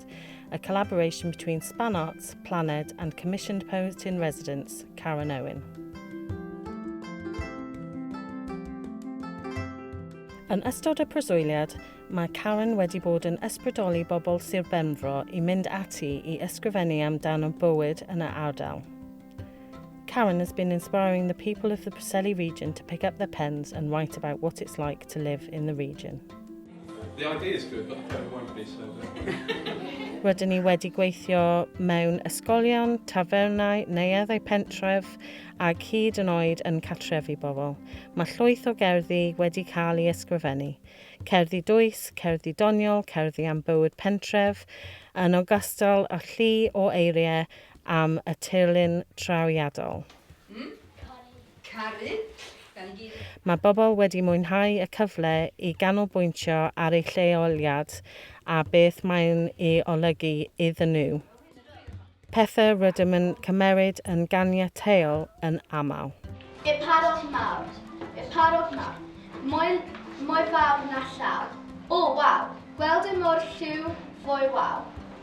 Trust, a collaboration between Span Arts, Planed and commissioned poet in residence, Karen Owen. Yn ystod y preswyliad, mae Karen wedi bod yn ysbrydoli bobl Sir Benfro i mynd ati i ysgrifennu amdano bywyd yn y ardal. Karen has been inspiring the people of the Preseli region to pick up their pens and write about what it's like to live in the region. The idea is good, but the pen won't be, so... Rydyn ni wedi gweithio mewn ysgolion, tafernau, neueddau pentref ac hyd yn oed yn catrefi bobl. Mae llwyth o gerddi wedi cael ei ysgrifennu. Cerddi dwys, cerddi doniol, cerddi am bywyd pentref, yn ogystal â llu o eiriau am y tirlun trawiadol. Mm, caru. Caru. Gan i gyd. Mae bobl wedi mwynhau y cyfle i ganolbwyntio ar eu lleoliad a beth mae'n ei olygu iddyn nhw, pethau rydym yn cymeryd yn ganiataol yn aml. Y parod mawr. Y parod mawr. Moel mor fawr na llaw. O, waw! Gweld e mor lliw, foel waw.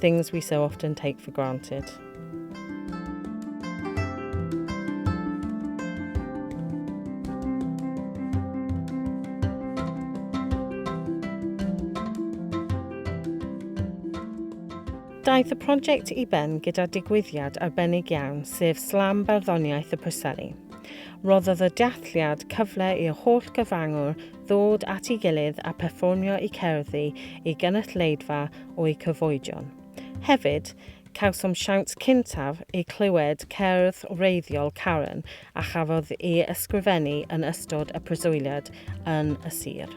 Things we so often take for granted. Daeth y prosiect i ben gyda digwyddiad arbennig iawn, sef Slam Barddoniaeth y Preseli. Roddodd y dealliad cyfle i'r holl gyfrangwr ddod at ei gilydd a pherfformio eu cerddi i gynulleidfa o'u cyfoedion. Hefyd, cawsom siawns cyntaf i glywed cerdd wreiddiol Karen a chafodd ei ysgrifennu yn ystod y preswyliad yn y sir.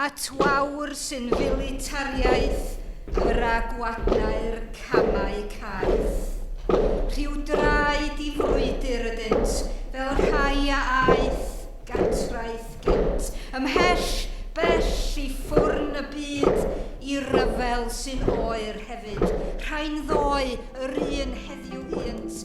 at wawr sy'n filitariaeth yr a gwadnau'r camau caeth. Rhyw draed i frwydr ydynt, fel rhai a aeth gatraeth gynt, ymhell bell i ffwrn y byd, i ryfel sy'n oer hefyd, rhai'n ddoe yr un heddiw ynt,